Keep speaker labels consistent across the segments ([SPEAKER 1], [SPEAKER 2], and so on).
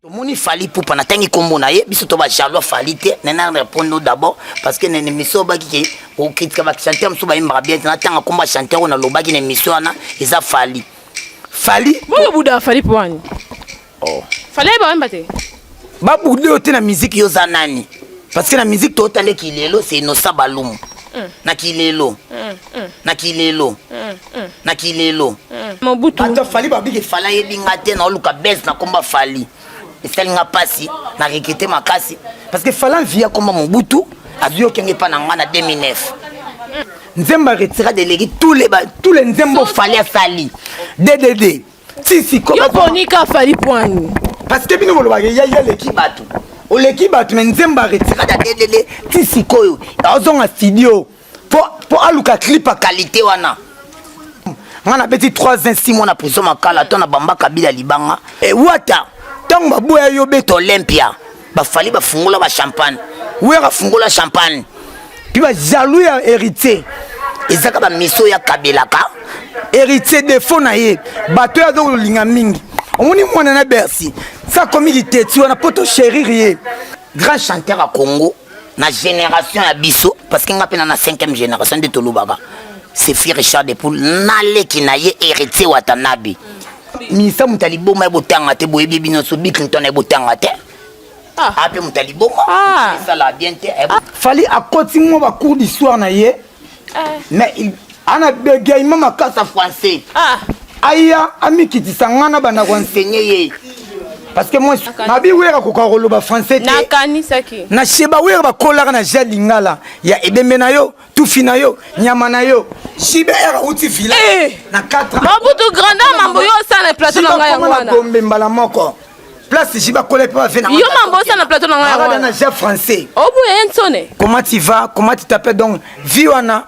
[SPEAKER 1] tomoni fali pupa natangi nkombo na ye biso to bajalois fali te nena répondre no d'abord parce que nene miso obaki ke okritika bachanteur mosusu bayembaka bien te natanga nkombo ya chanteur oyo nalobaki na emission wana eza fali fali
[SPEAKER 2] boyo buda fali puani Oh.
[SPEAKER 1] Fallait ba wemba te.
[SPEAKER 2] Ba boude
[SPEAKER 1] yo te na musique yo za nani? Parce que na musique to tande kilelo c'est Innocent Balumu. Mm. Na kilelo. Mm. Mm. Na kilelo. Mm. Mm. Na kilelo. Mm. Mobutu. Ata
[SPEAKER 2] fali ba bige
[SPEAKER 1] fala yebi nga te na oluka base na komba fali. Esali nga pasi na rekete makasi parce que fala via komba Mobutu azwi okenge epa na nga na 2009 nzembo aretira delegi tous les nzembo fali asali ddd si si comment yo poni ka fali
[SPEAKER 2] poani parce que bino bolobaka
[SPEAKER 1] ya ya leki bato oleki bato me nzembo aretirada delele ti sikoyo azonga studio mpo aluka clip ya kalite wana nga nabeti 3 ans 6 mois na prison makala to na bamba kabila libanga ewata ntango baboya yo beta olympia ba fali ba fungola ba champagne wera fungola champagne puis ba jaloux ya héritier ezaka ba miso ya kabelaka héritier defo na ye bato oyo azokolinga mingi omoni mwana na bercy sa komi liteti wana mpo tosherir ye grand chanteur ya congo na génération ya biso parce que nga mpe na na 5e génération nde tolobaka sefi richard de poule naleki na ye héritier watanabe Misa moto ya liboma ya botanga te boyebi bino so Bill Clinton ya botanga te ah. ape moto ya liboma ah. esala bien te eh, ah. fali akoti mwa bacours d'histoire na ye eh. mais ana begaima makasa français aya amikitisa ngai na banda koenseigne ye parce que moi mabi wera kokoka koloba français te na
[SPEAKER 2] sheba wera
[SPEAKER 1] bakolaka na ja lingala ya ebembe na yo tufi na yo nyama na yo JBR auti villa eh! na 4 Mabutu grandeur mambo
[SPEAKER 2] yo osala plateau na ngai yango wana Gombe mbala moko
[SPEAKER 1] place jiba kola pe avena yo mambo osala plateau na
[SPEAKER 2] ngai wana na ja français
[SPEAKER 1] obuya ye nsone
[SPEAKER 2] comment tu vas
[SPEAKER 1] comment tu t'appelles donc vie wana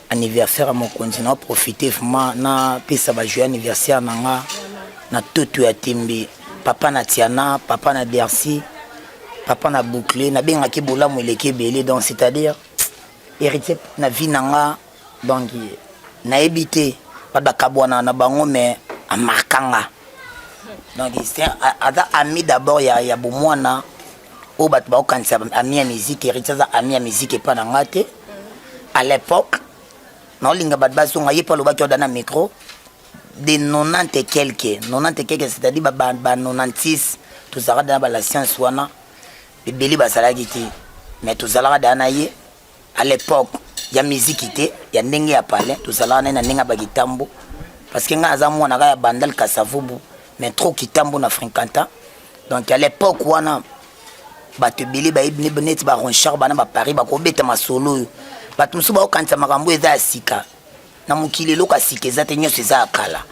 [SPEAKER 1] anniversaire ya mokonzi na profite vraiment napesa bajoye anniversaire na nga na toto ya tembe papa na tiana papa na dersi papa na boucle nabengaki bolamu eleki ebele donc c'est-à-dire héritier na vie na nga donc nayebi te bato bakabwana na bango mais amarka nga donc aza ami d'abord ya, ya bomwana oyo bato bakokanisa ami ya miziki eriti aza ami ya miziki epai na ngai te à l'époque naolinga bato bazonga ye mpe alobaki oda na micro de 90 et quelque 90 et quelque c'est-à-dire ba, ba, ba 96 tozalaka dana ba la science wana ebele bazalaki te mais tozalaka dana na ye à l'époque ya miziki te ya ndenge ya palais tozalaka naye na ndenge ya bakitambo parce que ngai naza mwana kaka ya bandal kasavubu mais trop kitambo na fréquenta donc à l'époque wana bato ebele bayebi neti baronchard bana baparis bakobeta masolo oyo bato mosusu bakokanisa makambo eza ya sika na mokili eloko ya sika eza te nyonso eza ya kala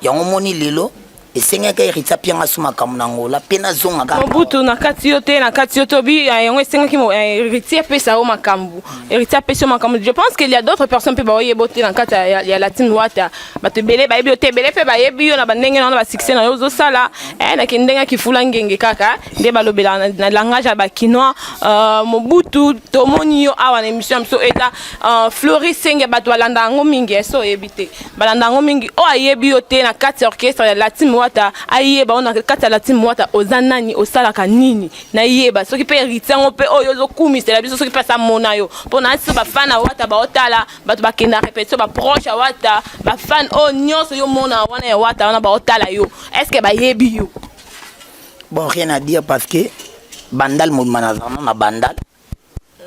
[SPEAKER 1] Yango moni lelo esengaki Eritha Pianga su makambo na Angola mpe nazonga kaka Mobutu na kati yo te
[SPEAKER 2] na kati yo to bi eh, yango esengaki eh, Eritha apesa yo makambo Eritha apesa yo makambo je pense qu'il y a d'autres personnes mpe baoyeba te na kati ya, ya Latin Wata bato ebele bayebi yo te ebele mpe bayebi yo na bandenge na yo na basuccès na yo ozosala eh, na kindenge ya kifula ngenge kaka nde balobela na, na langage ya bakinois uh, Mobutu tomoni yo awa na émission ya biso eza uh, Floris Senge bato balanda yango mingi eso oyebi te balanda yango mingi oyo ayebi yo te na kati ya orchestre ya latin wata ayeba oyo na kati ya latin wata oza nani osalaka nini nayeba soki mpe heritier yango mpe oyo ozokumisela biso soki mpe asa mona yo mpo na biso bafan ya wata baotala bato bakenda repetition baproche ya wata bafan oyo nyonso yo mona wana ya wata wana baotala yo estce bayebi yo bon
[SPEAKER 1] rien à dire parce que bandal mobima nazalana na bandal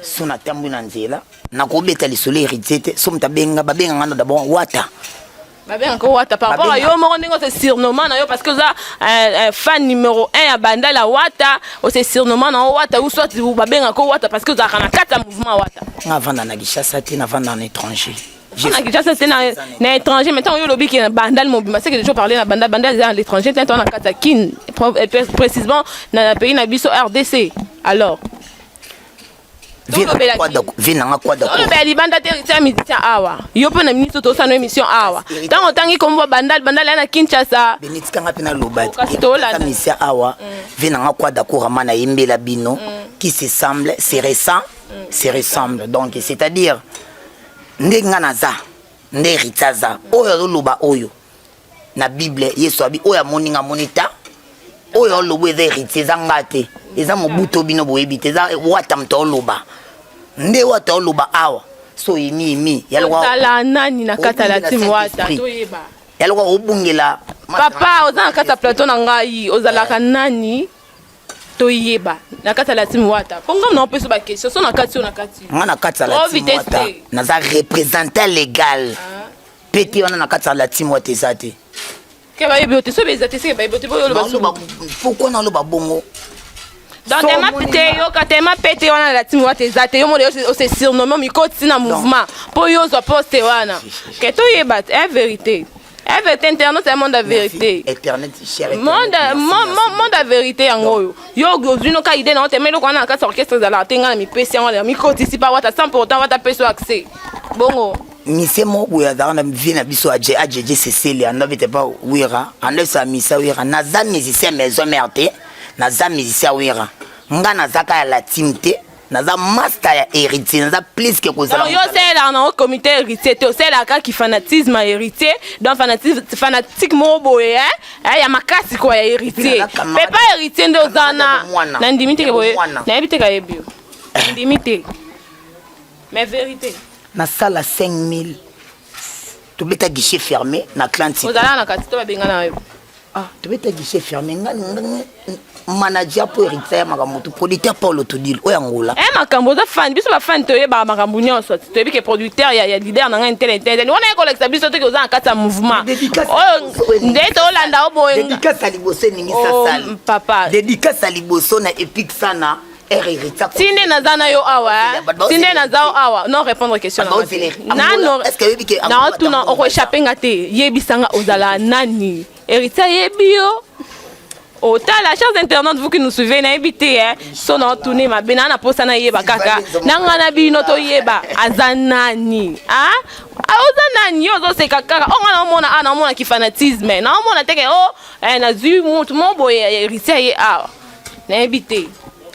[SPEAKER 1] so natambwi na nzela nakobeta lisolo heritier te so moto abenga babenga nga na dabord wata babengaka
[SPEAKER 2] wata par rapport a yo moko ndenge ose surnommant na yo parce que oza euh, euh, fan numéro 1 ya bandal ya wata ose surnommant na yo wata ou soit babengaka wata parce que ozalaka na kati ya mouvement wata nga avanda na kinshasa
[SPEAKER 1] te navanda na étranger na kinshasa
[SPEAKER 2] te na étranger mais ntango yo olobi ke na bandal mobima seke toujours parle na bandal bandal eza na l'étranger te ntango na kati ya kin euh, précisément na pays na biso rdc alors
[SPEAKER 1] vie nanga kwadaolobela libanda te tia
[SPEAKER 2] musicien awa yo mpe na ministre tosana émission awa ntango otangi kombo bandal bandal ya na kinshasa benitikanga mpe naloba
[SPEAKER 1] musicien awa vie nanga kwadakorama nayembela bino qui se semble se ressemble se ressemble donc c'est à dire ndenge nga naza nde héritier aza oyo azoloba oyo na bible yesu abi oyo amoni nga amoni ta oyo oloba eza héritier eza nga te eza mobuto bino boyebi te eza wata moto oloba nde wata oloba awa so imi imi yalokola nani na
[SPEAKER 2] kata la team wata toyeba yalokola obungela
[SPEAKER 1] papa oza
[SPEAKER 2] na kata plateau na ngai ozalaka nani toyeba na kati ya latime wata mpo ngai naopesa ba question so na kati yo na kati ngai na kati ya latime
[SPEAKER 1] wata naza représentant légal ah. mpe te wana na kati ya latime wata eza te ke bayebi
[SPEAKER 2] yo te soki eza te seke bayebi yo te boyoloba pourkui naloba
[SPEAKER 1] bongo donc
[SPEAKER 2] tema pete yoka tema pete wana latimi wata eza te yo mona ose surnomme omikoti na mouvement mpo yo ozwa poste wana ke toyeba te eh, verité Avec internet ya monde ya verite. Internet
[SPEAKER 1] cher.
[SPEAKER 2] Monde monde ya verite yango oyo. Yo ozwi no ka idée na otemeli ko na kati orchestre ezala te ngai na mipesi yango na mikotisi pa wata sans pour autant wata peso accès. Bongo mise moko
[SPEAKER 1] boye azalaka na vie na biso aje ajeje seseli ando abete pa wira ando esa misa wira naza musicien maison mère te naza musicien wira nga nazaka ya la team te naza masta ya héritier naza plus que kozala yo osalelaka nango
[SPEAKER 2] comité héritier te osalelaka kaka kifanatisme ya héritier donc fanatique moko boye eh, ya makasi kua ya héritier mpe pa héritier nde oza na nandimi teke boye nayebi teke ayebi yo ndimi te mais vérité nasala
[SPEAKER 1] 5000 tobeta guichet fermé na clanti ozalaka na kati to babengana
[SPEAKER 2] yo ah tobeta
[SPEAKER 1] guichet fermé nga manager mpo héritier ya makambo tu producteur paulo todile oyo angola e makambo oza fani biso
[SPEAKER 2] bafani toyebaka makambo nyonso toyebi ke producteur ya, ya leader na ngai ntele ntele wana ye kolakisa biso toki oza na kati ya mouvement oyo nde tolanda o boye dedikasa liboso
[SPEAKER 1] eningisasali oh, papa dedikasa
[SPEAKER 2] liboso
[SPEAKER 1] na epic sana tinde
[SPEAKER 2] naza na yo awa tinde naza yo awa non répondre question naotuna okoechappe nga te yebisa nga ozala nani héritier ayebi yo otala chers internautes vous qui nous suivez nayebi te eh. so naotuni mabe naa naposa nayeba kaka na ngai na bino toyeba aza nani ah? Ah, oza nani yo ozoseka kaka o oh, ngai naomona a ah, naomona kifanatisme naomona teke o oh, eh, nazwi motu mo boye héritier ye awa ah. nayebi te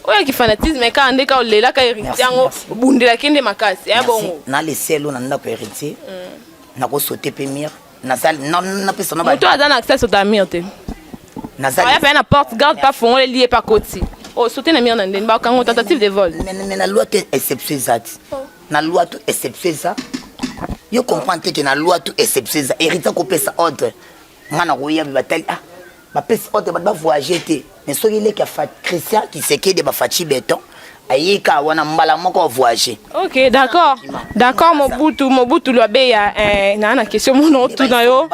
[SPEAKER 2] oyo ki fanatisme kaka nde ka olelaka héritier yango obundelaki nde makasi ya bongo na leselo na ndako
[SPEAKER 1] héritier mm. nakosote mpe mire napesa moto aza na accès sota mire
[SPEAKER 2] te nazaya mpe na porte garde pa fongoleli ye pa koti osote oh, na mire na ndeni bakango tentative de vol mais na loi te
[SPEAKER 1] exception eza ti oh. na loi to exception eza yo comprendre te ke na loi to exception eza héritier akopesa ordre ngai nakoya batali ah bapesi ote bato bavoyage te mais soki leki ya christian kisekedi ya bafaci beton ayika wana mbala moko voyage ok d'accord
[SPEAKER 2] d'accord mobutu mobutu lwabeya eh, naa na question mona otuna yo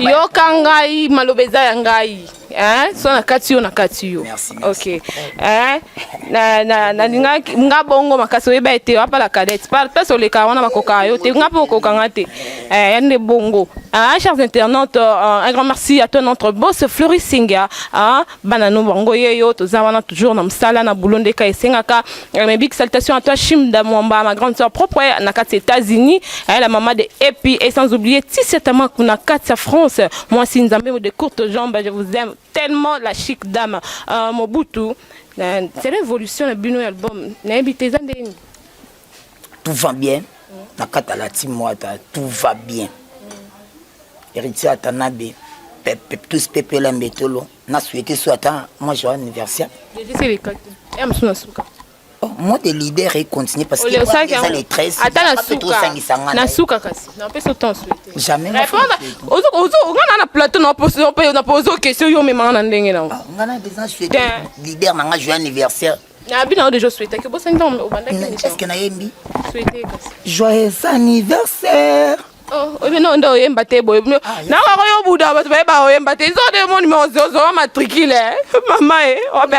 [SPEAKER 2] yoka ngai maloba eza ya ngai eh, so nakati yo nakati yo ok eh, nalingaki nga bongo makasi oyeba ete wapala cadete place olekaka wana bakokaka yo te nga mpe okokanga te Eh, Yande Bongo. Ah, chers internautes, euh, un grand merci à toi, notre boss Fleury Singa. Ah, Banano Bongo Yeyo, Tozawana, toujours dans Msala, na Boulonde Kaye Sengaka. Eh, Mes big salutations à toi, Shimda Mwamba, ma grande soeur propre, eh, na Katsi États-Unis, eh, la maman de Epi, et sans oublier Tissia Tamaku, na Katsi France. Moi, si Nzambe de courtes jambes, je vous aime tellement, la chic dame. Euh, Mobutu, euh, c'est l'évolution de Bino album. Nayebi, t'es un des-
[SPEAKER 1] tout va bien na kata la team wata tout va bien héritier atanabe tous pepe la mbetolo na souhaité so ata moi joyeux anniversaire Oh, moi de leader et continue parce que les années 13 ata na suka kasi na pesa autant souhaiter jamais répondre
[SPEAKER 2] ozo ozo ngana na plateau na poso na poso question yo memanga na ndenge na ah, ngana déjà
[SPEAKER 1] souhaiter leader na nga joyeux anniversaire Na bino deja
[SPEAKER 2] souhaitaki obosani ntango obandaki emission. Est-ce que nayembi? Souhaite kasi.
[SPEAKER 1] Joyeux anniversaire. Oh, oyebi
[SPEAKER 2] no nde oyemba te boye ah, nango yango yo buda bato baye baoyemba te izo nde mo numero zozowa matricule eh. mama e ope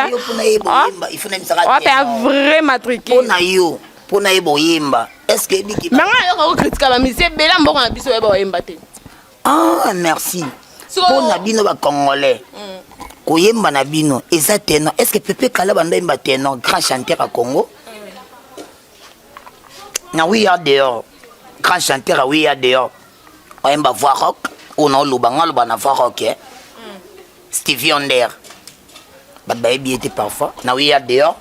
[SPEAKER 1] a vrai
[SPEAKER 2] matricule mpona yo mpona ye
[SPEAKER 1] boyemba est ce que ebiki manga yo kakokritika
[SPEAKER 2] bamisi ebele mboka na biso oyeba oyemba te Ah,
[SPEAKER 1] merci. So... Mpo na bino ba Congolais. Mm. Koyemba na bino eza tenor. Est-ce que Pepe Kala banda yemba tenor grand chanteur à Congo? Mm. Na oui ya dehors. Grand chanteur à oui ya dehors. Oyemba voix rock ou na oloba ngalo bana voix rock. Eh? Stevie Wonder bato bayebi ye te parfois na oye ya dehors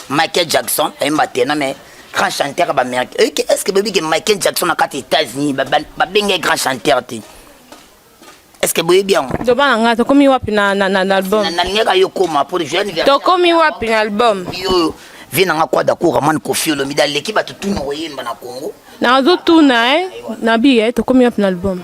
[SPEAKER 1] Michael Jackson ayemba tena mais grand chanteur ya baaméricain oyoki est ce que boyebi ke Michael Jackson na kati ya États-Unis babengi ye grand chanteur te est ce que boyebi yango loba na ngai tokomi wapi
[SPEAKER 2] na na na album nalingaka yo koma
[SPEAKER 1] po joyeux anniversaire tokomi wapi na
[SPEAKER 2] album yo vie na
[SPEAKER 1] ngai kwada ko ramane kofi olomide aleki bato tuna koyemba na Congo nazotuna
[SPEAKER 2] eh nabi eh tokomi wapi na album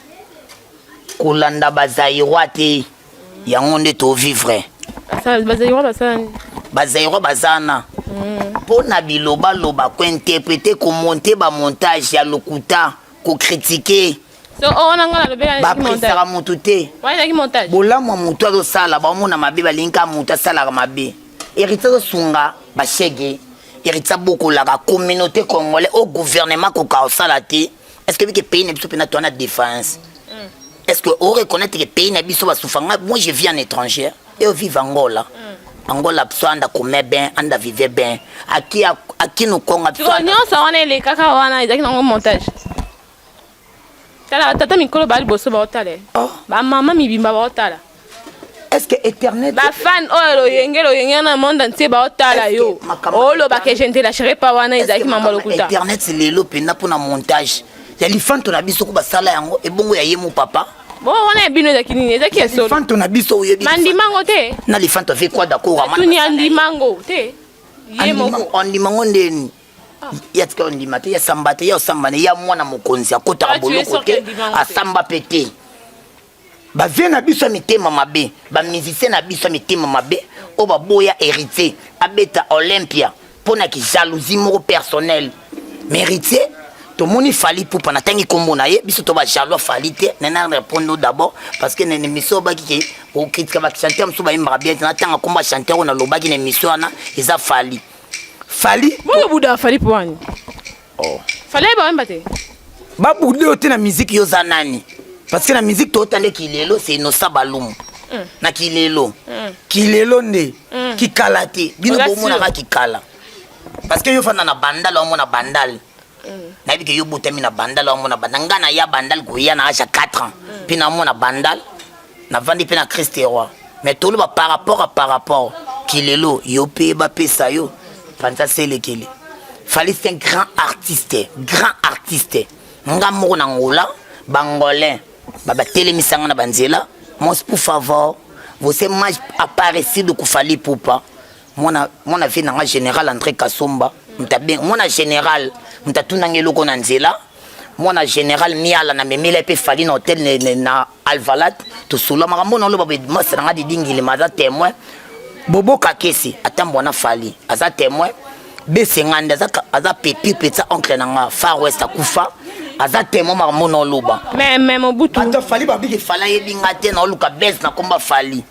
[SPEAKER 1] kolanda ba Zaïrois te yango nde to vivre ba Zaïrois
[SPEAKER 2] basala nini ba Zaïrois
[SPEAKER 1] bazana mpo na bilobaloba kointerprete komonte bamontage ya lokuta kokritike so oyo oh, wana
[SPEAKER 2] ngai nalobelaki bapesaka motu
[SPEAKER 1] te
[SPEAKER 2] bolamu ya motu azosala
[SPEAKER 1] baomona mabe balingi kaka motu asalaka mabe hériti azosunga bashege hériti abokolaka communauté congolais au gouvernement koka kosala te est ce que bike pays na biso pena toana défense mm. est ce que o reconnaître que pays na biso basufa nga moi je vis en étranger et au vive angola mm. angola biso anda kome bien anda vive bien aki aki no konga biso nyonso wana
[SPEAKER 2] elekaka wana ezalaki nango montage tala batata mikolo baa liboso baotala oh. bamama mibimba baotala eske
[SPEAKER 1] éternel bafane oyo oh,
[SPEAKER 2] loyenge loyenge na monde entier baotala yo oloba ke je ne te lâcherai pas wana ezalaki mambo lokuta internet lelo mpenza
[SPEAKER 1] mpo na montage ya lifanto na biso ko basala yango ebongo ya ye mo papa bo wana ya bino
[SPEAKER 2] ezalaki nini ezalaki ya solo lifanto na biso oyebi
[SPEAKER 1] mandimango te na
[SPEAKER 2] lifanto ave kwa
[SPEAKER 1] dakora tuni andimango
[SPEAKER 2] te ye moko
[SPEAKER 1] andimango ndeni ah. ya tika ondima te ya samba te ya osamba ne ya mwana mokonzi akotaka ah, boloko te asamba mpe te ba vieux na biso ya mitema mabe ba musicien na biso ya mitema mabe oyo baboya héritier abeta olympia mpo na kijalousie moko personnel mais héritier tomoni fali pupa natangi nkombo na ye biso to bajalois fali te nena répondre no d'abord parce que na émission obaki ke okritika bachanteur mosusu bayembaka bien te natanga nkombo ya chanteur oyo nalobaki na émission wana eza fali fali boyobuda fali
[SPEAKER 2] puani Oh.
[SPEAKER 1] Fallait ba yemba te.
[SPEAKER 2] Ba boude
[SPEAKER 1] yo te na musique yo za nani? Parce que na musique to tande kilelo c'est Innocent Balumu. Mm. Na kilelo. Mm. Kilelo nde. Mm. Kikala te. Bino bo mona ka kikala. Parce que yo fanda na bandal wa mona bandal. Mm. nayebi ke yo botami na bandal wa mona bandal ngai naya bandal koya na age ya 4 ans mpe mm. namona bandal navandi mpe na kriste roi me toloba par rapport a par rapport kilelo yo mpe bapesa yo panza selekele fali c'est un grand artiste grand artiste nga moko na ngola bangolin babatelemisa nga na banzela mos pour favor você mais aparecido com fali pupa mwana mwana vie na nga général André Kasomba mtabeng mwana général mtatunanga eloko na nzela mwana général miala na memela mpe fali na hotel na alvalat tosolola makambo na loba masa na nga didingilima aza témoin bobo kakesi atambwa na fali aza témoin besengande aza, aza petit petit oncle na nga far west akufa aza temo makambo na oloba mais mais mobutu
[SPEAKER 2] bato fali babiki
[SPEAKER 1] fala yebi nga te na oluka bes na komba fali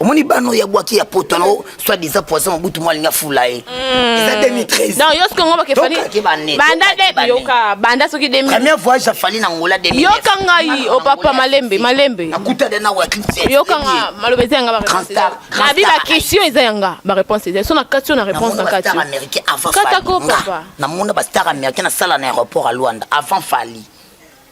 [SPEAKER 2] omoni bana oyo
[SPEAKER 1] abwaki ya poto wana soit disant poison mobutu mwa alingi afula ye hmm. eza 2013 donc yo soki ngobake fali
[SPEAKER 2] banda de yoka banda soki 2000 premier voyage ya fali na
[SPEAKER 1] ngola 2000 yoka ngai o oh,
[SPEAKER 2] papa malembe malembe nakuta de na wakli
[SPEAKER 1] yoka nga maloba eza
[SPEAKER 2] yanga ba réponse na bi ba question eza yanga ba réponse eza so na kati na réponse na kati kata
[SPEAKER 1] ko papa na
[SPEAKER 2] mona ba star
[SPEAKER 1] américain na sala na aéroport à Luanda avant fali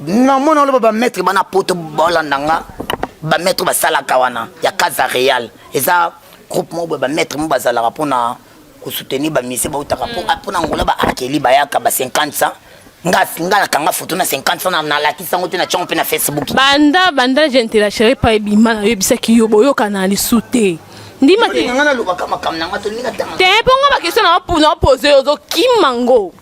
[SPEAKER 1] na mona oloba bametre bana poto bolanda nga bametre basalaka wana ya casa real eza groupe moko boye bametre mo bazalaka mpona kosoutenir bamise bautaka mpona mm. ngola baakeli bayaka ba 50 ans nga nakanga foto na 50 sana nalakisi yango te na tiango mpe na facebook banda banda gentela
[SPEAKER 2] chéri pa ebima nayebisaki yo boyokana lisu te ndima te nga nalobaka makambo na nga
[SPEAKER 1] tolinga tanga te mpo nga bakestion
[SPEAKER 2] na opose ozokima ngo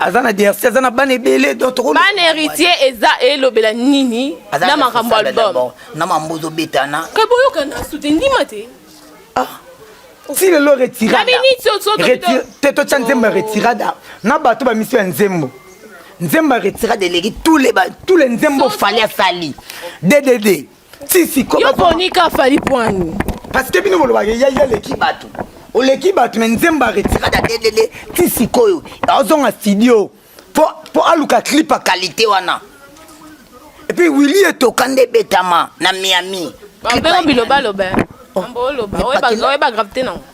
[SPEAKER 1] aza na dersi aza na bana ebele bana héritier
[SPEAKER 2] eza elobela nini na makambo album na mambo ozobetana
[SPEAKER 1] ke boyokana sute
[SPEAKER 2] ndima te ah,
[SPEAKER 1] ti lelo retirada te totya nzembo ya oh. retirada na bato bamisi ya nzembo nzembo ya retirada eleki tous les nzembo fali asali ddd sisi yo boni ka fali
[SPEAKER 2] pwani parce que bino
[SPEAKER 1] bolobaka ya ya leki bato oleki bato me nzembo aretirada delele ti sikoyo azonga studio mpo aluka clip ya kalite wana epuis willi etoka nde ebetama na miami bilobaloba
[SPEAKER 2] Oh,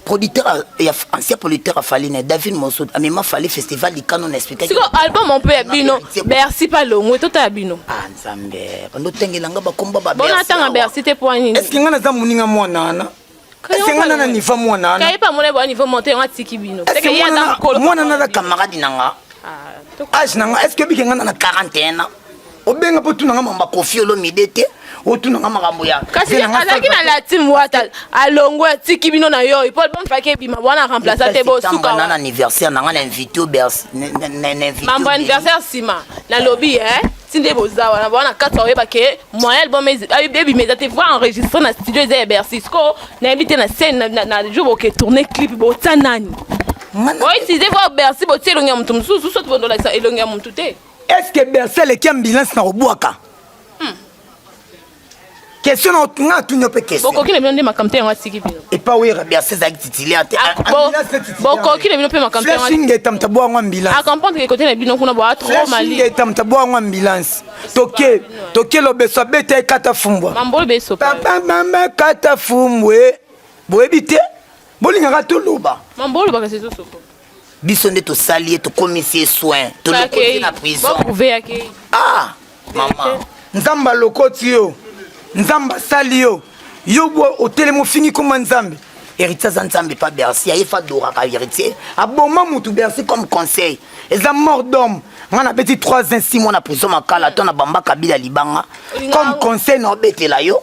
[SPEAKER 2] producteur ya
[SPEAKER 1] ancien producteur ya fali na david mosud amema fali festival likano na expliquesiko album on mpe
[SPEAKER 2] ya bino bercy mpe alongwe tota ya bino ah, nzambe
[SPEAKER 1] bandotengela nga bakomba babonatanga bercy te mpo
[SPEAKER 2] nini eske nga naza moninga
[SPEAKER 1] mwana wana esenga nana niva mwana
[SPEAKER 2] wanamwana
[SPEAKER 1] naza camarade na nga ah, age na nga eske bike nga nana 41 ans obenga mpo tuna nga mamba kofi olomide te otuna nga makambo ya kasi azalaki na
[SPEAKER 2] latim wata alongwe atiki bino na yo paul bamfaki ebima wana remplaça te bosuka na anniversaire na nga
[SPEAKER 1] na invité obers mambo
[SPEAKER 2] anniversaire nsima nalobi e eh, ti nde boza wana bawana kati oyeba ke moyen album ebima eza te voir enregistre na studio eza ya bercy sikoyo nayebi te na scène na jour boke tourne clip botya nani boyitilize voir bercy botia elongi ya moto mosusu soki bondolakisa elongi ya moto te est ce que berse
[SPEAKER 1] eleki ambulance na kobwaka hmm. question nga atuni mpe questionbokoki na bino nde makambo te yango
[SPEAKER 2] atiki bino epa oyera berse
[SPEAKER 1] ezalaki titulaire te ah,
[SPEAKER 2] bokoki na bino mpe makamboingeta moto abwango ambulance
[SPEAKER 1] akompondre kote na bino
[SPEAKER 2] kuna boa trop malingeta moto abwango
[SPEAKER 1] ambulance toke toke lobeso abeta ye kata fumbwa mambo lobeso papa
[SPEAKER 2] mama
[SPEAKER 1] kata fumbwe boyebi te bolingaka toloba mambo olobaka sezosopo
[SPEAKER 2] biso nde
[SPEAKER 1] tosali ye tokomisi ye soin tolokoti na prison
[SPEAKER 2] ah mama
[SPEAKER 1] nzambe alokoti yo nzambe asali yo yo bo otelemi ofingi koma nzambe héritier aza nzambe pa bercy aye fa adoraka héritier aboma motu bercy comme conseil eza mort d'homme ngai nabeti 3 ans 6 mois na prison makala to na bamba kabila libanga comme conseil na obetela yo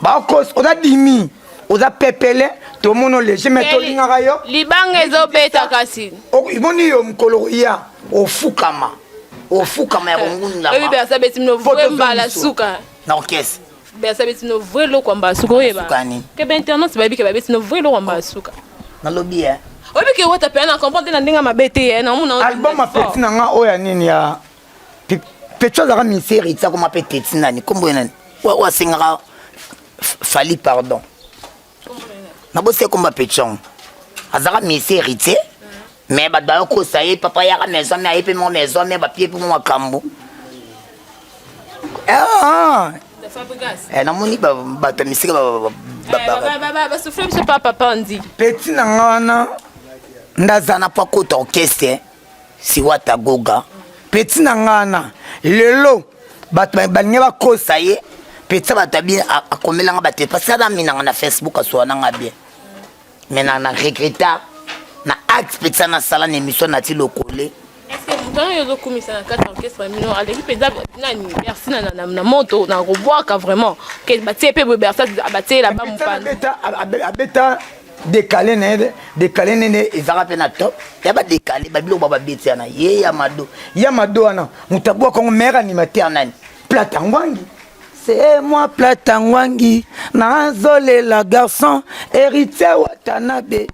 [SPEAKER 1] bakos oza dimi oza pepele tomono lege me tolingaka yo libanga ezobeta
[SPEAKER 2] kasi omoni yo mokolo
[SPEAKER 1] koya ofukama ofukama ya kongundamabala
[SPEAKER 2] na orkestre
[SPEAKER 1] besa beti no
[SPEAKER 2] vrai loko ya mbasuka oyeba ke bainternance bayebi ke babeti no vrai loko ya mbasuka nalobi ye
[SPEAKER 1] oyebi ke wata
[SPEAKER 2] mpe na comprendre na ndenge mabe te ye na omona album apeti na nga
[SPEAKER 1] oyo ya nini ya Pecho azalaka ministère etiako ma pe teti nani kombo ye nani oyo asengaka fali pardon nabosi ekomba pechon azalaka mesi héritier me bato bayokosa ye papa yaka maison me aye mpe mwa maison me bapie mpe mwa makambo eh, ah. eh, namoni bato ya misika
[SPEAKER 2] peti na nga wana
[SPEAKER 1] ndaza na po akota orchestre siwata goga peti na nga wana lelo bato balingi bakosa ye peti bato abi akomelanga bato epasi ana minanga na facebook asuwa nanga bien me na na regreta na acte peti ana asala na émission nati lokole ntango yo
[SPEAKER 2] ozokumisa na kati ya orchestre mino aleki mpenza nani bersi na moto na kobwaka vraiment batie mpe boye bersi abatielela bamopanabeta
[SPEAKER 1] dekale na ye dekale nene ezalaka mpe na top ya badekale babiloko ba babeti yana ye ya mado ya mado wana moto abwaka yango maire animateur nani plata ngwangi se mwa plata ngwangi nazolela garçon héritier watanabe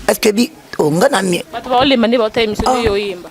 [SPEAKER 1] estce bi onga oh, na mie bato baolemba nde baota
[SPEAKER 2] emission oyo oyemba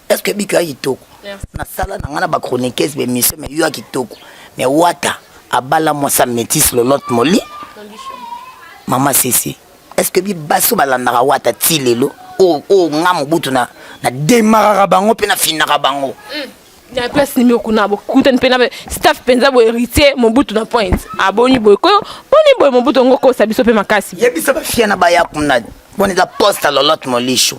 [SPEAKER 1] est ce que biki ya kitoko nasala na ngai na bachroniqueuse bemission mais yo ya kitoko mais wata abala mwasa métis lolote moli mama sese est ce que bibaso balandaka wata ti lelo oyo oh, oh, nga mobutu na demaraka bango mpe nafinaka bango mm. na place
[SPEAKER 2] nimi okuna bokutani mpe na staff mpenza boye héritier mobutu na point aboni ah, boye koyo boni boye mobutu yango okosa biso mpe makasi yebisa bafia na baya
[SPEAKER 1] kuna boni eza poste lolote molisho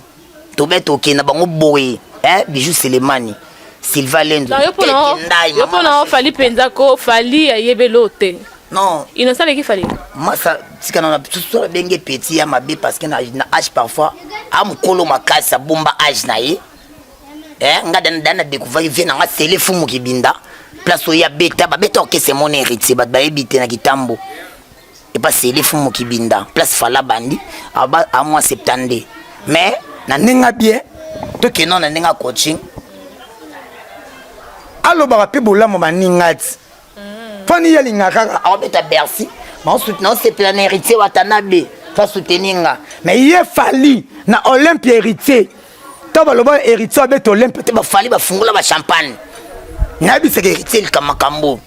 [SPEAKER 1] tobe toke na bango boye eh bijou selemani silva lendo yo pona
[SPEAKER 2] ofali mpenza ko fali ayebelo te non innocent
[SPEAKER 1] aleki fali
[SPEAKER 2] masa tika na
[SPEAKER 1] biso abenge petit ya mabe parce que na age parfois amokolo makasi abomba age na ye eh, nga dana na découvrir vie na nga sele fumu kibinda place oyo abeta babeta orkese mona héritier bato bayebi te na kitambo epa sele fumu kibinda place fala bandi aba a mois 72 mais na ndenge abie tokenda na ndenge coaching alobaka mpe bolamu baninga ti fani ye alingaka kaka aobeta bercy naosepela na héritier watanabe fa soutenir nga mais ye fali na olympia héritier to baloba héritier abeta olympia te bafali bafungola bachampagne nayebisaka héritier likambo makambo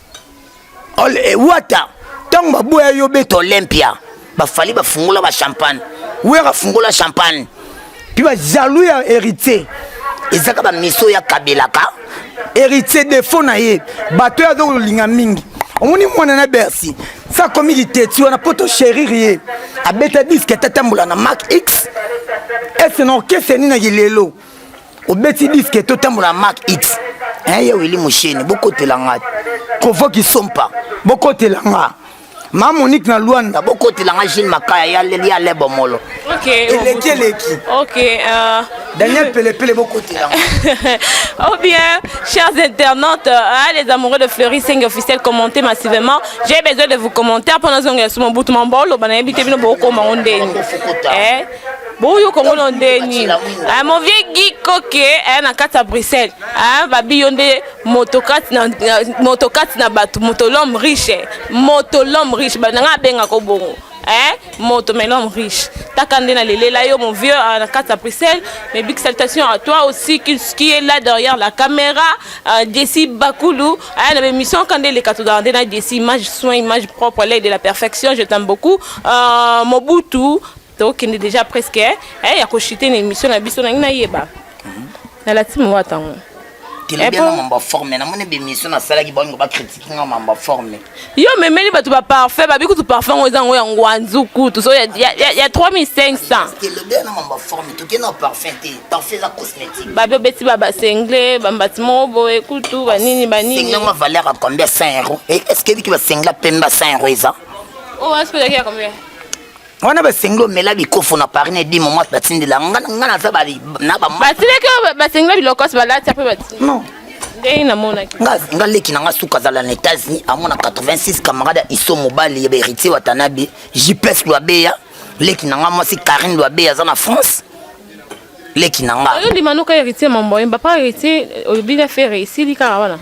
[SPEAKER 1] Eh, wata ntango baboya yo beta olympia bafali bafungola bachampagne wera afungola champagne mpe bajalou ya héritier ezaka bamiso ya kabelaka héritier defo na ye bato oyo aza kolinga mingi omoni mwana na bercy sa akomi liteti wana mpo tosherire ye abeta diske atatambola na mak x ese na orkestre nini na kilelo obeti diske totambola mak it hein, ye wili mosheni bokotela nga kovoki sompa bokotela nga ma monique na luanda bokotela nga gile
[SPEAKER 3] makaya ya lebo molo eleki
[SPEAKER 2] eleki
[SPEAKER 1] euh,
[SPEAKER 2] daniel
[SPEAKER 1] pelepele bokotela ou
[SPEAKER 2] bien chers internautes hein, les amoureux de fleury senge officiel commenter massivement j'ai besoin de vous commentaire mpo nazongela somo butu mambo oloba nayebi te bino bokokoma ngo ndeni boyo kongo no nde nini eh, mon vieux gi koke eh, na kati ya bruxelles eh, babi yo nde moto kati na, na, moto kati na bato moto l'homme riche moto l'homme riche nanga abengako bongo eh, moto mais l'homme riche taka nde nalelela yo mon vieux euh, na kati ya bruxelles mais big salutation à toi aussi qui, qui est là derrière la caméra euh, desi bakulu eh, na bémission ka nde eleka tozala nde na desi image soin image propre l'aide de la perfection je t'aime beaucoup euh, mobutu tokende deja presque eh, eh ya koshite na émission na biso nangi nayeba mhm. nalati mowa tango telobia
[SPEAKER 3] eh, na mambo forme namoni bemission nasalaki bango bakritike nga mambo forme yo memeli bato
[SPEAKER 2] baparfum babi kutu parfum ngo eza yango ya ngwanzu kutu so ya 3500 telobia na
[SPEAKER 3] mambo forme toke na parfum te parfum eza cosmétique babi obeti babasengle
[SPEAKER 2] bambati moko boye kutu banini banini sengle yango valeur ya
[SPEAKER 3] combien 100 euro est ce que ebiki basengle apemba 100 euro eza oyo oh, aspelaki
[SPEAKER 2] ya combien wana
[SPEAKER 3] basengeli omela bikofo na paris na edimo mwasi batindela nga nga naza bali na ba basileke basengeli
[SPEAKER 2] bilokos balati ape bati non ndenge
[SPEAKER 3] namonaki
[SPEAKER 2] nga nga leki na nga
[SPEAKER 3] suka azala na états-unis amona 86 camarade ya iso mobali ya beritier watanabe jps lwabeya leki na nga mwasi karine lwabeya aza na france leki na nga oyo ndima noka héritier mamboyemba
[SPEAKER 2] pa héritier olobina fere esili kaka wana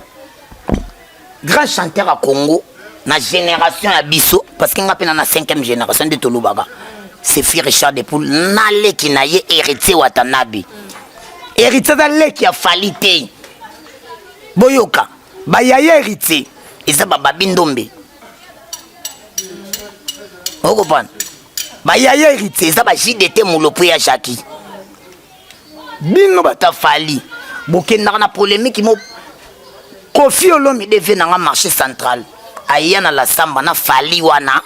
[SPEAKER 3] grand chanteur ya congo na génération ya biso parce que nga mpe na na 5e génération nde tolobaka sefi richard de poule na leki na ye héritier watanabe héritier aza leki ya fali te boyoka bayaya héritier eza bababi ndombe okopana bayaya héritier eza bajdt molopo ya jacki bino bata fali bokendaka na polemiki mo kofi olomide vie nanga marché central aya na lasamba na fali wana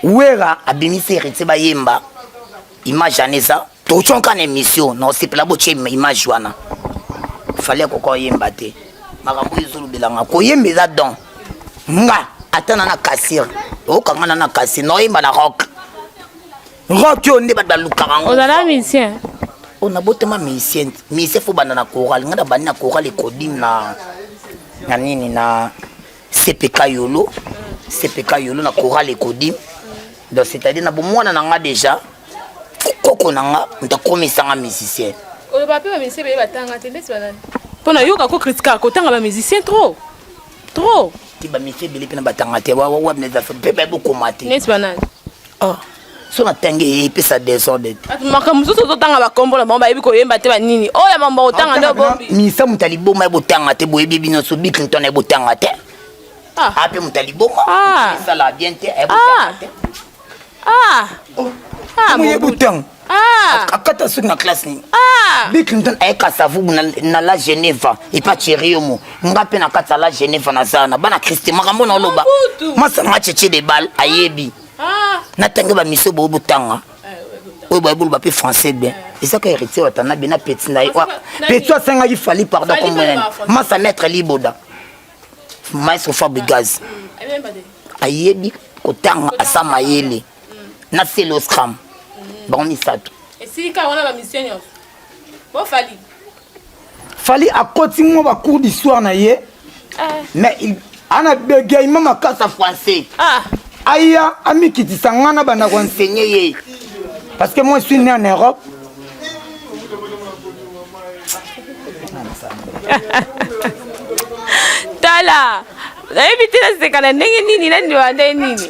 [SPEAKER 3] wera abimisi heritier bayemba image wana eza toconka na émission na osepela botie image wana fali akoka oyemba te makambo oyo ezolobelanga koyemba eza don nga ata na na kasir okanga na na kasir naoyemba na rock Rock yo nde bato balukaka yango. Ozala musicien?
[SPEAKER 2] Oh, na botama
[SPEAKER 3] musicien. Musicien faut banda na chorale. Nga na bandi na chorale ekodim na na nini na CPK Yolo. CPK Yolo na chorale ekodim. Donc c'est-à-dire na bomwana na nga déjà koko na nga ntakomisa nga musicien. Oyo ba pe ba
[SPEAKER 2] musicien ba tanga te ndesi ba nani? Pona yoka ko critique ko tanga ba musicien trop. Trop.
[SPEAKER 3] Ti ba musicien bele pe na batanga te. Wa wa wa na za pe ba bokoma te. Ndesi ba nani?
[SPEAKER 2] Oh.
[SPEAKER 3] so natangi ye epesa desordre te makambo mosusu ozotanga
[SPEAKER 2] bakombo na bango bayebi koyemba te banini oyo ya mambo otanga nde obombi minisa moto ya liboma ye
[SPEAKER 3] botanga te boyebi ebi nyonso bi clinton ye botanga te ape moto ya liboma esala bien te ye botanga
[SPEAKER 1] te moye botanga Ah! akata
[SPEAKER 3] suki na classe nini ah! bik ntan ayeka savubu na la geneva epa cheriomo nga mpe na kati ya la geneva naza na bana kriste makambo na oloba masanga cheche de bal ayebi ah! natangi bamiso boyo botanga eh, oyo bayebolo bape français bien eh. ezaka héritier watana be na peti na ye peti asengaki fali pardon komonene masa maître liboda maestro fabrigaz mm, ayebi kotanga asa mayele na celoscram bango misato esika wana ba
[SPEAKER 2] mission nyonso bo fali
[SPEAKER 1] fali akoti mwa ba cours d'histoire na ye eh. mais il ana bégaiement makasi ya français ah. aya amikitisa ngai na banda koenseigne ye parce que moi suis né en europe
[SPEAKER 2] tala nayebi te nasekana ndenge nini nandiwa nde nini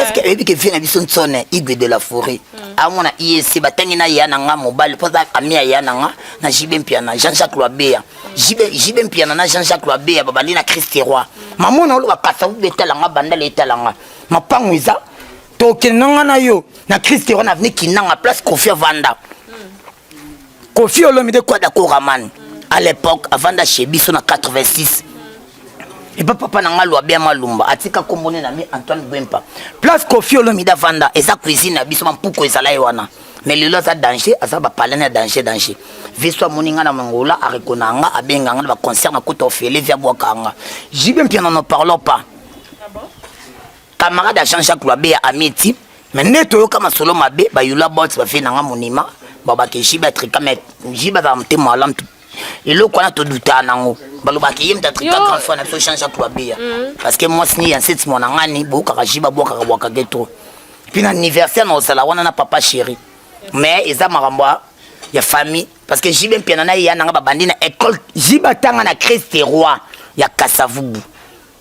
[SPEAKER 2] eske oyebi ke vie na biso
[SPEAKER 3] nsone igwe de la foret mm. amona iec batangi na ya na nga mobali mpo aza ami ya ya na nga na jibe mpiana jean jacques loabeya jibe mpiana na jean jacques loabeya babandi na christe roi mamona oloba kasa ubi etala nga bandala etala nga mapango eza tokende na nga na yo na christe roi na aveni kinanga place kofi avanda Kofi Olomide Kwada Koraman à l'époque avanda chez biso na 86 epa papa na ngai lwabia malumba atika kombo ne na mi antoine gwempa place kofi olomide avanda eza cuisine na biso bampuku ezala ye wana mais lelo aza danger aza bapalani ya danger danger viso amoni ngai na mangola arekona nga abenga nga na baconcert na kuta ofele via bwakanga jibe mpiana no parlons pas camarade ya jean jacques lwabe ya amiti me nde toyoka masolo mabe bayula bot bafe nanga monima babaka ejibe atrika me jibe azala motema alamu eloko wana todutaka nango balobaka ye mtatrika grand frère na biso jean jacques lwabe ya mm. parce que mwasi ni ya nseti mwana ngani boyokaka jibe abwakaka bwaka ge trop mpe na anniversaire na ozala wana na papa chéri mais eza makambo ya famille parce que jibe mpiana na ye ya nanga babandi na école jibe atanga na christ roi ya kasavubu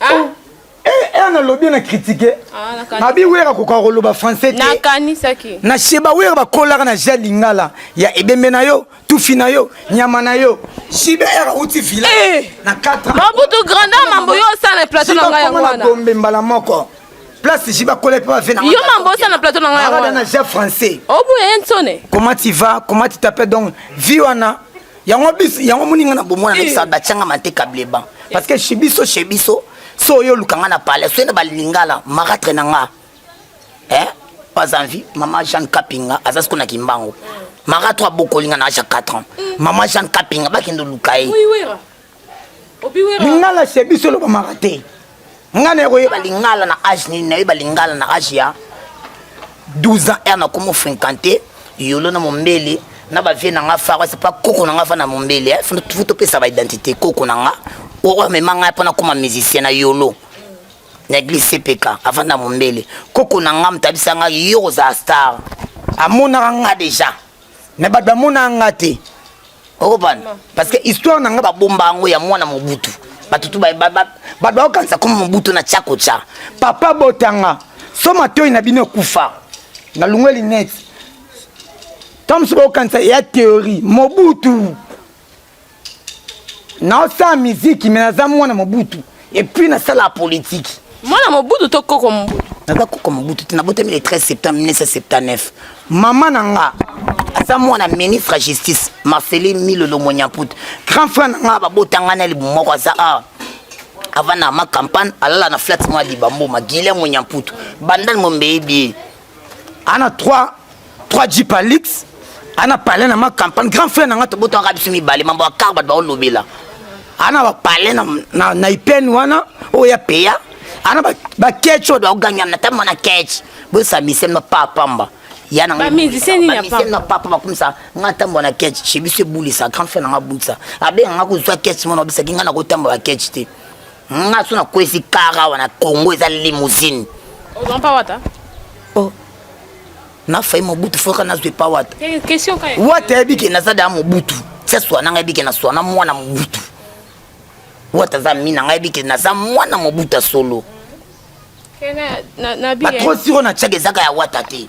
[SPEAKER 2] Ah.
[SPEAKER 1] Eh, eh, nalobi na kritike ah, abi wera kokoka koloba français te
[SPEAKER 2] na sheba wera bakolaka
[SPEAKER 1] na ja lingala ya ebembe na yo tufi na yo nyama na yo shiba era uti vila eh. na 4 mabutu grandeur mambo
[SPEAKER 2] yo osala plateau na ngai yango wana gombe mbala moko
[SPEAKER 1] place jiba kola pe bafe na yo mambo osala plateau
[SPEAKER 2] na ngai yango wana na ja français
[SPEAKER 1] obuya ye nsone
[SPEAKER 2] comment tu vas
[SPEAKER 1] comment tu t'appelles donc vie wana yango biso yango moninga na bomwana eh. na batianga mante kableban parce que chez biso chez biso so oyo oluka nga na palais soyena balingala maratre na nga eh pas envie maman jeanne kapinga aza siko na kimbangu marato abokolinga na age ya 4 ans maman jeanne kapinga bakende oluka ye
[SPEAKER 2] lingala se biso
[SPEAKER 1] elobamaka te nga na koyeba lingala na age nini nayeba lingala na age ya 12 ans r nakoma ofrenkante yolo na mombele na bavie na nga fara sepa koko na nga fa na mombele eh, fo topesa baidentité koko na nga oyo amema ngai mpo nakoma musicien na yolo na eglise cpk avant na mombele koko na nga motabisa ngai yo kozala star amonaka nga deja mais bato bamona nga te okopana parce que histoire na nga babomba yango ya mwana mobutu bato tu bato baokanisa koma mobutu na tya kotya papa botanga so matoi na bino ekufa na lungwe linete ntango mosusu baokanisa ya theorie mobutu naosala miziki me naza mwana mobutu epuis nasala politiki mwana mobutu
[SPEAKER 2] to koko mobutu naza koko mobutu
[SPEAKER 3] te nabotami le 13 septembre 1979 mama na nga aza mwana ministre ya justice marcelin milolo monyaput grand frère na nga babota ngai na libu moko aza awa avanda ma campagne alala na flat mwa libambo magile monyamputu bandani mombeyebi ana 3 3 jeep alix ana palais na ma campagne grand frère na nga tobotaka biso mibale mambo ya kar bato baolobela ana bapalais na, na, na ipene wana oyo ya peya ana baketch oyo baogangama na tama na ketch bosambisemi na pa pamba ya na
[SPEAKER 2] papa bakumisa
[SPEAKER 3] nga ntambo na ketch chez biso ebulisa grand frère na nga abulisa abenga nga kozwa ketch mona obisaki nga na kotamba baketch te nga so nakwesi kara awa na congo eza limousine ozwa mpa wata oh. nafai mobutu foka nazwa epa wata eh, wata
[SPEAKER 2] yebi ke naza daa
[SPEAKER 3] mobutu tia swana nga yebi ke na swana mwana mobutu wata aza mi na nga yebi ke naza mwana mobutu ya solo
[SPEAKER 2] eh, batro siro na tiaka ezaka
[SPEAKER 3] ya wata te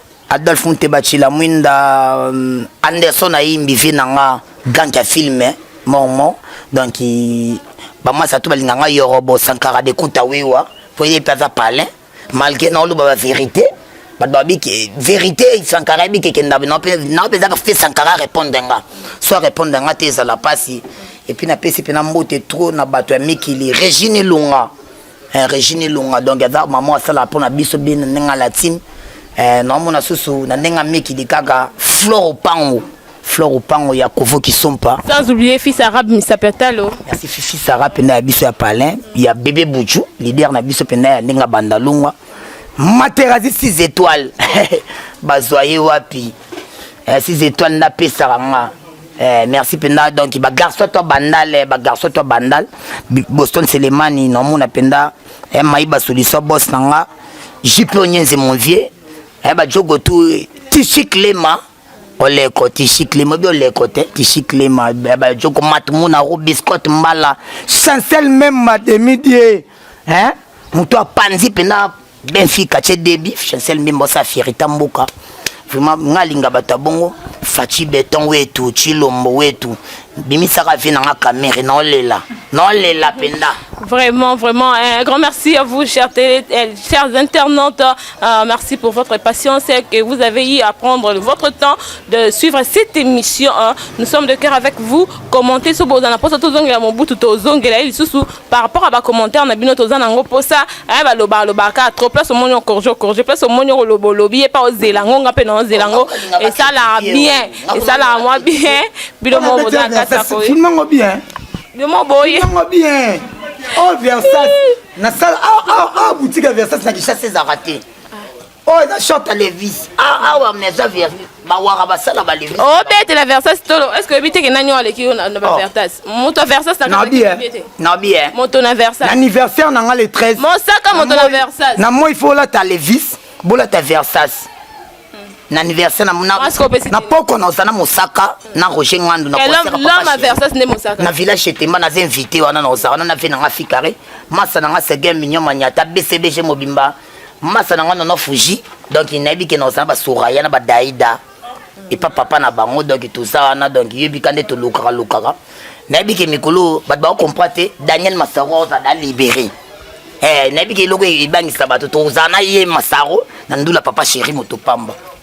[SPEAKER 3] Adolphe Muteba Chilamwinda euh, Anderson ayimbi vie na nga grand ya film eh, mormon donc bamasa to balinga nga yorobo sankara de kuta wiwa po ye mpe aza palin malgré naoloba ba vérité bato babi ke vérité sankara yebi kekenda nao mpe ezaka fe sankara répondre nga so arépondre nga te ezala mpasi epuis napesi mpe na mbote trop na bato ya mikili régine elonga eh, regine elonga donc aza mama asala mpo na biso bie na ndenge alatine eh, naomona susu na ndenge amikili kaka flore opango flore opango ya kovo kisompa sans oublier fils arabe
[SPEAKER 2] misapetalo merci fils arabe
[SPEAKER 3] mpenza ya biso ya palin ya bebe buchu leader na biso mpenza ya ndenge abanda longwa materazi 6 étoiles bazwa ye wapi eh, si zetoile nda pesaka nga Eh, merci penda donc ba garçon to bandal eh, ba garçon to bandal Boston Selemani na mona penda eh, mayiba solution boss na nga JP Onyenze mon vieux eh, ba jogo tout tichi clément oleko tishiklima bi oleko te tishiklima eh, ba jogo matmuna ro biscotte mbala chancel même ma demi die hein moto apanzi penda Benfica ce début Chancel Mbembo sa fierita mboka vraiment nga linga bato bongo Fachi Beton wetu Chilombo wetu bimisaka vie nanga kamere naolela naolela penda Vraiment, vraiment,
[SPEAKER 2] un grand merci à vous, chers, télé, euh, chers internautes. Euh, merci pour votre patience et que vous avez eu à prendre votre temps de suivre cette émission. Hein. Nous sommes de cœur avec vous. Commentez sur Bozana Posa Tozongela Mobutu Tozongela Lisusu. par rapport à ba commentaires na bino toza nango posa eh ba loba loba ka trop place au monio corjo corjo place au monio lobo lobi et pas ozela ngo nga pe na ozela ngo et ça la bien et ça la moi bien bilo mo boza ka ça ko film ngo bien
[SPEAKER 1] bilo mo boye
[SPEAKER 2] ngo bien
[SPEAKER 1] oh versace na sala ah ah ah boutique versace na kichase ezaka te
[SPEAKER 3] oyo eza short levis ah, awa meza vernis bawaka basala balevis obetela oh, versas
[SPEAKER 2] tolo est ce que oyebi teke nani oyo aleki yo na oh. baversas moto versas nabi eh.
[SPEAKER 3] moto na versas
[SPEAKER 2] anniversaire na nga le 13
[SPEAKER 1] mosaka moto na
[SPEAKER 2] versas na moi fo olata
[SPEAKER 1] levis bolata versas
[SPEAKER 3] na anniversaire na poko na ozana mosaka na roger ngandu
[SPEAKER 2] na village chetemba naza
[SPEAKER 3] invité wana na oza wana na vie na nga fikare masa na nga segin mignon maniata bcbg mobimba masa na nga nono fuji donc nayebi ke naoza na basoraya na badaida epa papa na bango donc toza wana donc yebika nde tolukaka lukaka nayebi ke mikolo bato bakokomprend te daniel masaro oza da libere eh, nayebi ke eloko ebangisa bato tozala na ye masaro na ndula papa sheri moto pamba